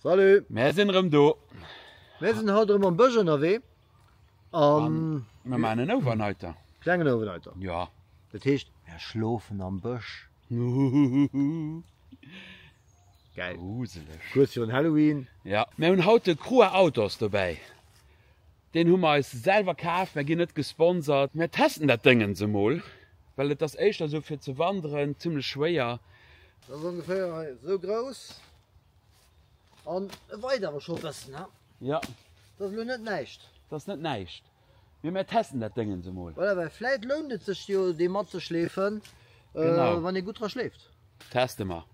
Salut! Mär sinn erëm do! Mär sinn haut erëm am Bësch ënnerwee an. Mär maachen en Overnighter. Klengen Overnighter. Jo. Dat heescht, mär schlofen am Bësch. Huhuhuhu. Gäil. Gruseleg. Kuerz virun Halloween. Jo. Mär hunn haut de Crua Outdoors dobäi. Deen hu mer eis selwer kaf. Mär ginn net gesponsert. Mär testen dat Déngens emol, well et ass éischter esou fir ze wanderen, zimmlech schwéier. Dat ass ongeféier esou grouss. An e weit awer scho e bëssen, he? Ja. Dat ass elo net näischt. Dat ass net näischt. Mee mir testen dat Déngens emol. Voilà, well vläit lount et sech jo, dee matzeschleefen, wann ee gutt dra schleeft. Teste mer.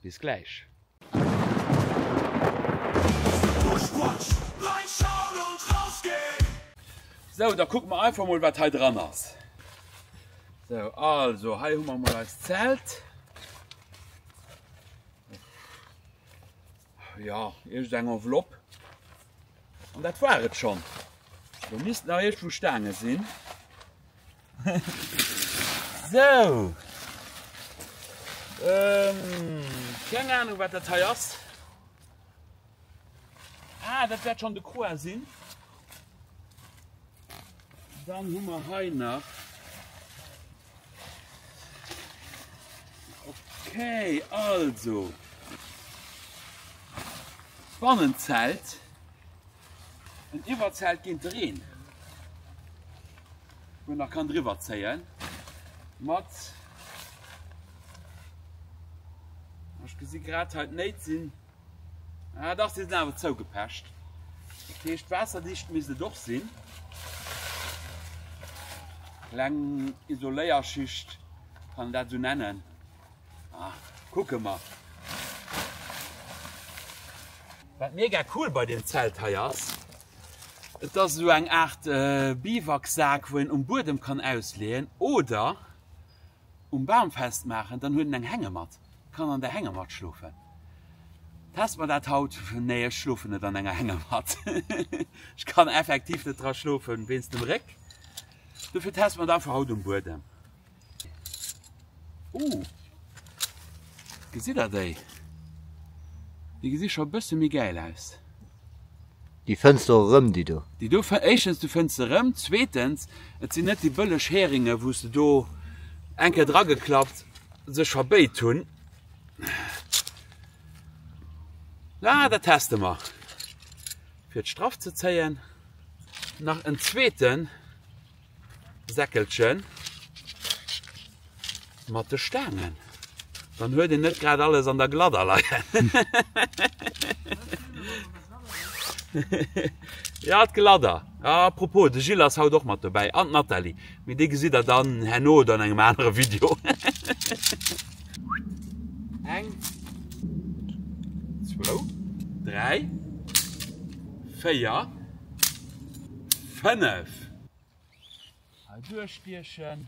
Bis gläich. Sou, da kucke mer einfach emol, wat hei dran ass. Sou, also, hei hu mer emol eist Zelt. Ja, irgend eng Envelopp. An dat war et schon. Du misst nach irgendwo Stange sinn. so. Ähm, keine Ahnung, wat dat hei ass. Ah, dat wärt schon de Croix sinn. Dann hu mer hei nach. Okay, also Bannenzelt en Iwwerzelt ginn dreen wo nach kann driwwer zeien mat Ech gesi grad halt néit sinn. Ah, dach, si sinn awer zougepecht. Dat heescht, waasserdicht misst et och sinn. Kleng Isoléierschicht, kann een dat esou nennen. Ah, kucke mer. Wat mega cool bei dem Zelt hei ass, et ass esou eng Aart Biwaksak, wou een um Buedem kann ausleeën oder um Bam festmaachen, dann huet en eng Hängematt, kann an der Hängematt schlofen. Test mer dat haut, nee ech schlofen net an enger Hängematt, ech kann effektiv net dra schlofen wéinst dem Réck, dofir teste mer et einfach haut um Buedem. Ooh, gesitt der déi? Déi gesi scho e bësse méi gäil aus. Déi fënns de och erëm, déi do. Déi do, éischtens, du fënns se erëm, zweetens, et sinn net déi bëlleg Heringe wou se do eng Kéier drageklappt sech verbéit hunn. Mä dat teste mer, fir d'Straff ze zéien. Nach en zweeten. Säckelchen mat de Staangen. Dann huet en net grad alles an der Gladder leien. Ja d'Gladder. A propos, de Gilles ass haut och mat dobäi an d'Nathalie. Mee déi gesitt der dann herno oder an engem anere Video. Eng, zwou, dräi, véier, fënnef. Hei duerchstiechen.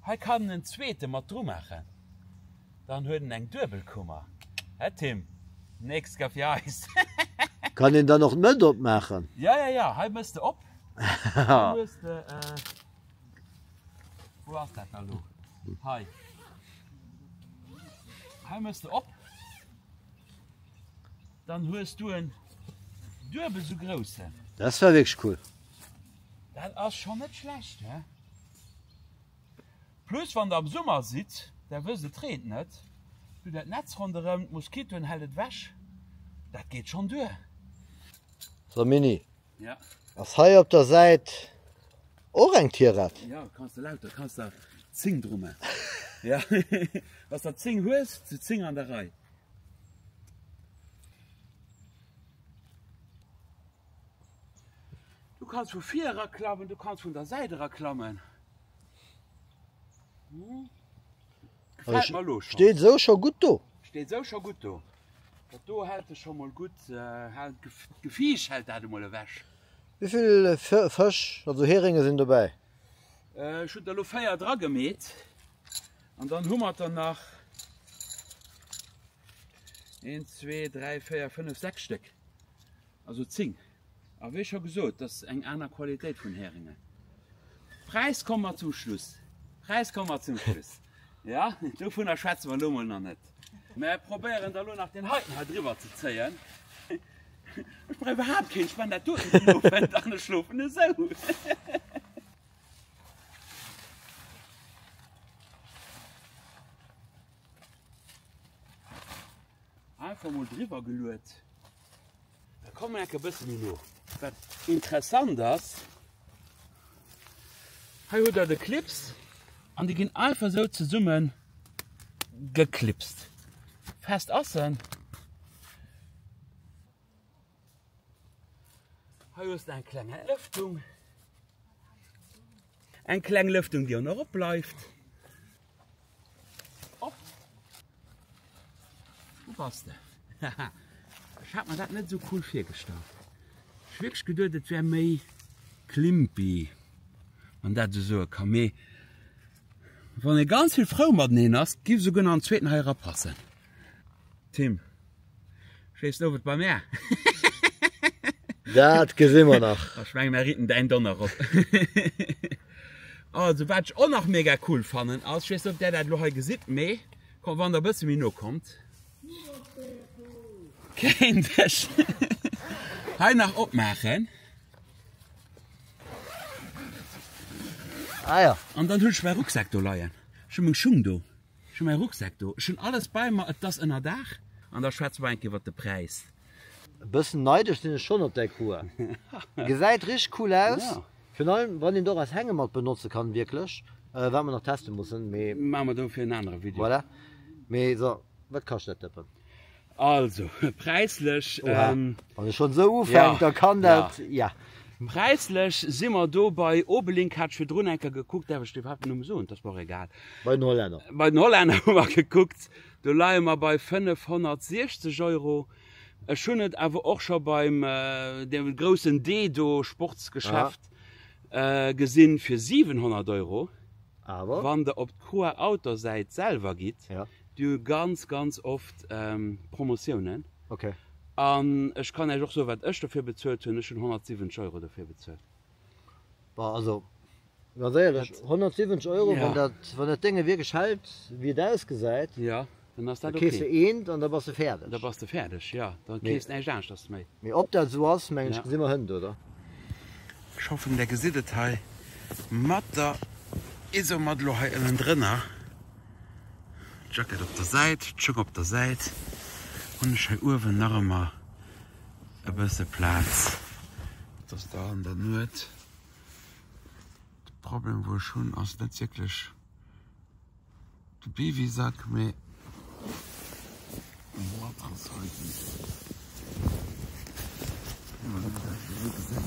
Hei kann en zweete mat dru maachen. Dann huet en eng Duebelkummer. Hä Tim, nächst gëtt fir eis. Kann een dann och d'Mëtt opmaachen? Jo, jo, jo, hei méchs de op. Hei hues de. Wou ass dat da lo? Hei. Hei mëss de op. Dann hues du en duebel sou groussen. Das war wirklich cool. Dat ass schon net schlecht, he? Plus wann der am Summer sidd, der wësst et reent net, du dat Netz ronderëm, d'Moskitoen hält et weg, dat geet schon duer. So Mini. Ass hei op der Säit och eng Tirette? Ja, kanns de lauter, kanns der 10 dru man. Ja, wanns der 10 hues, si 10 an der Rei. Du kanns vu vir era klammen, du kanns vun der Säit era klammen. Gefällt mer lo schon. Steet esou scho gutt do. Steet esou scho gutt do. Dat do hält e scho mol gutt, hält d'Gefiicht hält dat emol ewech. Wéivill Fësch, also Heringe sinn dobäi? Ech hunn der lo 4 dra gemeet an dann hu mer der nach 1, 2, 3, 4, 5, 6 Stéck, also 10. A wéi scho gesot, dat ass eng aner Qualitéit vun Heringe. Präis komme mer zum Schluss. Präis komme mer zum Schluss. Ja, dovunner schwätze mer elo mol nach net. Mä probéieren der elo nach deen heiten hei driwwer ze zéien. Ech brauch iwwerhaapt keen, ech man dat doten den Owend an ech schlofen esou. Einfach mol driwwer geluet. Da kommen wir ein bisschen no. Was interessant ist, hier habt ihr die Clips und die gehen einfach so zusammen geklipst. Fest ist er. Hier ist eine kleine Lüftung. Eine kleine Lüftung, die auch noch bleibt. Op! Wou bass de? Haha, ech hat mer dat net esou cool virgestallt. Ech hu wierklech geduet, et wär méi Klimpy, wann dat esou soe kann. Mee wann ee ganz vill frou mateneen ass, giff se guer nach en zweeten hei erapassen. Tim, schéiss du owes bei mär? Dat gesi mer nach. Ech mengen mer ritten däin Donner op. Also wat ech och nach mega cool fannen ass, ech weess net ob där dat elo hei gesitt, mee kommt wann der e bësse méi no kommt. Kéint ech hei nach opmaachen. Ah ja. An dann hunn ech mäi Rucksak do leien. Ech hu meng Schung do. Ech hu mäi Rucksak do. Ech hunn alles bei mer, et ass Ënnerdaach. An da schwätze mer enk iwwert de Präis. E bëssen neideg sinn ech schonn op däi Cour. Gesäit richteg cool aus, virun allem wann een et och als Hängematt benotze kann, wierklech. Wat mer nach teste mussen, mee. Maache mer dofir en anere Video. Voilà. Mee so, wat kascht dat Dëppen? Also präislech, wann e schonn esou ufänkt, da kann dat, jo. Präislech si mer do bei Obelink, hat ech virdrun eng Kéier gekuckt, däerf ech dee iwwerhaapt den Numm soen? Et ass mer och egal. Bei den Hollänner. Bei den Hollänner hu mer gekuckt, do leie mer bei 560 Euro. Ech hunn et awer och scho beim deem groussen D do, Sportsgeschäft, gesinn fir 700 Euro. Awer. Wann Der op d'Croix-Outdoor-Säit selwer gitt, Déi hu ganz, ganz oft Promotiounen. Okay. An ech kann Iech och soen, wat ech dofir bezuelt hunn, Ech hunn 170 Euro dofir bezuelt. Bah, also, ganz éierlech, 170 Euro, wann dat, wann dat Dénge wierklech hält, wéi et ausgesäit, Jo, dann ass dat da kees okay. de eent an da bass de fäerdeg. Da bass de fäerdeg, jo. Da Mee. kees näischt aneschters méi. Mee ob dat esou ass, mengen ech, Ja. gesi mer hënt, oder? Ech hoffen, Der gesitt et hei mat der Isomatt elo hei ënnendrënner. D'Jackett op der Säit, d'Schung op der Säit, hunn ech hei uewen nach ëmmer e bësse Plaz. Et ass da an der Nuet. De Problem wou ech hunn ass net wierklech de Biwisack, mee de Matrass hei, déi ech elo hei gesinn.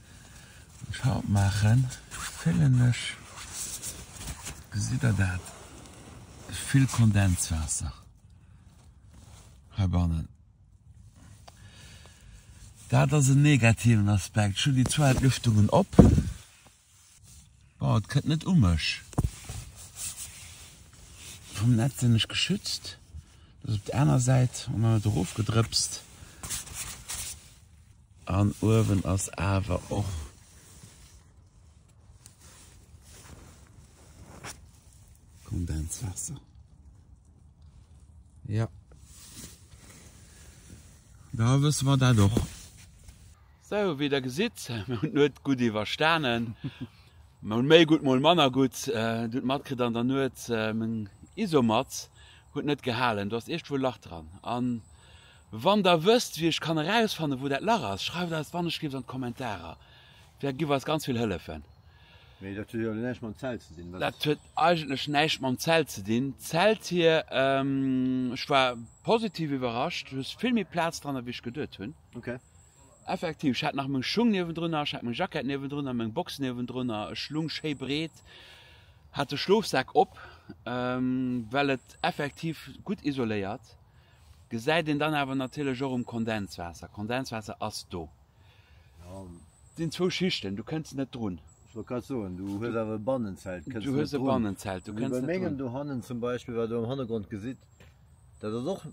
Schaut maachen fillen ech, gesitt der dat, vill Kondenswaasser heibannen. Dat ass en negativen Aspekt. Ech hunn déi zwou Entlüftungen op. Bon, et kënnt net u mech. Vum Netz sinn ech geschützt. Dat ass op der aner Säit an dann net erofgedrëpst. An uewen ass awer och. Kondenswaasser. Jo. Da wësse mer dat och. Sou wéi der gesitt, mir hunn d'Nuet gutt iwwerstanen. Mol méi gutt, mol manner gutt. Du hutt matkritt an der Nuet, meng Isomatt huet net gehalen. Do ass iergdwou e Lach dran. A wann der wësst, wéi ech kann erausfannen, wou dat Lach ass, schreift eis d'Wannechgriips an d'Kommentarer. Vläicht giff eis ganz vill hëllefen. Mee dat huet jo näischt mam Zelt ze dinn, wat? Dat huet eigentlech näischt mam Zelt ze dinn. D'Zelt hir, ech war positiv iwwerrascht, du hues vill méi Plaz dran, ewéi ech geduet hunn. Ok. Effektiv, ech hat nach meng Schung niewendrunner, ech hat meng Jackett niewendrunner, meng Box niewendrunner, ech lung schéi breet, hat de Schlofsak op, well et effektiv gutt isoléiert, gesäit een dann awer natierlech och um Kondenswaasser, Kondenswaasser ass do, et sinn zwou Schichten, du kënns net drun. Ech wollt grad soen, du hues awer e Bannenzelt, kënns net drun, wéi bei mengem dohannen zum Beispill, wat der am Hannergrond gesitt, Dat ass och,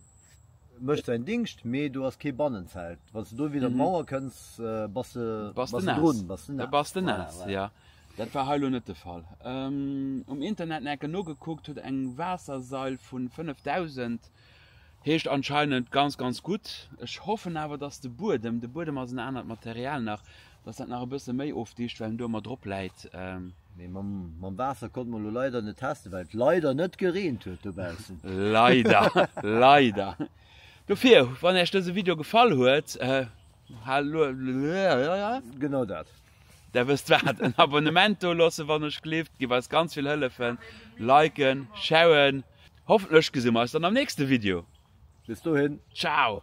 mécht säin Dingscht, mee do ass kee Bannenzelt. Wann s de do widder d'Mauer kënns, bass de, bass de drun, bass de naass. Bass de naass, jo. Dat war hei lo net de Fall. Um Internet enke nogekuckt, huet eng Waassersail vu 5000, heescht anscheinend ganz, ganz gutt. Ech hoffen awer, datt de Buedem, de Buedem ass en anert Material nach, Dass dat nach e bësse méi ofdicht, well en do ëmmer drop läit. Mee mam Waasser konnte mer elo leider net testen, well et leider net gereent huet dobaussen. Leider, leider. Dofir, wann Äech dëse Video gefall huet, Genau dat. Där wësst wat, en Abonnement do loossen, wann Iech gleeft, giff eis ganz vill hëllefen, liken, sharen. Hoffentlech gesi mer eis dann am nächste Video. Bis dohin. Ciao.